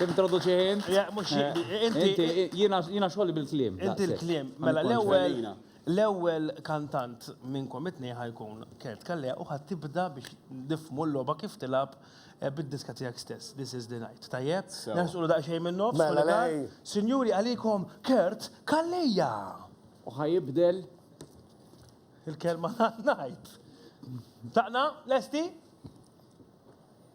Introduċi int. Le, mhux inti. Jiena xogħli bil-kliem. Inti l-kliem. Mela l-ewwel l-ewwel kantant minnkom it-tnejn ħa jkun Kurt Calleja u ħa tibda biex nifhmu l-logħba kif tilgħab bid-diska tiegħek stess, This Is The Night. Tajjeb? Nersqulu daqsxejn min-nofs. Sinjuri għalikom Kurt Calleja! U ħa jibdel. Il-kelma li ħa ngħid. Tlaqna? Lesti?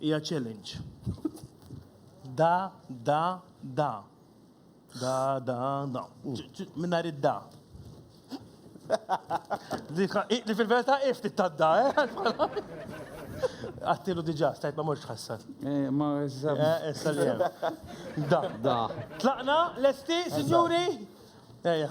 Hija challenge. Da, da, da. Da, da, da. Mingħajr id-da. Li fil-verità hi ftit tad-da, eh? Għattilu diġa, stajt ma morx ħassan. Eh, ma jizzab. Eh, issa li Da. Da. Tlaqna, lesti, signori? Eja.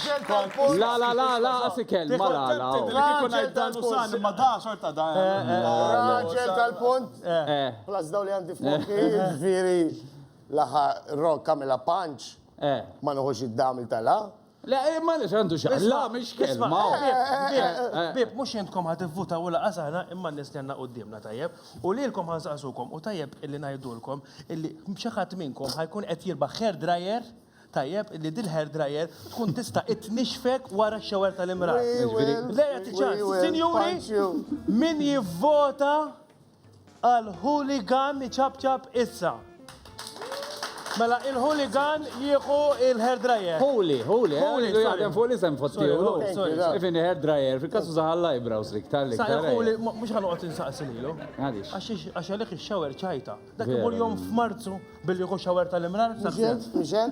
La la la la asikel ma la la. Raġel tal-punt. Ma da xorta da. Raġel tal-punt. Plus daw li għandi f'moħħi ġifieri laħa rock għamilha punch ma nuħux id-daml tal-a. La ma nix għandu xaqqa. La mhix kelma. Bieb mhux intkom ħa tivvutaw u laqas aħna imma n-nies li għandna quddiemna tajjeb. U lilkom ħa nsaqsukom u tajjeb illi ngħidulkom illi xi ħadd minnkom ħa jkun qed jirbaħ hair dryer. Tajjeb li dil-hair dryer tkun tista' tnixxfek wara x-shower tal-imrar. Lei jagħti ċans. Sinjuri, min jivvota għal Hooligan iċapċap issa? Mela il-Hooligan jieħu il-hair dryer. Hooli, Hooli, Hooli, sorry. Jaħdem fuq l-isem fost jieħu. Ifin hair dryer, fil-kasu zaħal l-eyebrows li ktar li ktar. Hooli, mux ħanuqot insaqsi lilu. Għalix. Għax għalek il-shower ċajta. Dak imur jom f'Marzu billi hu xawer tal-imrar. Iżjed, iżjed.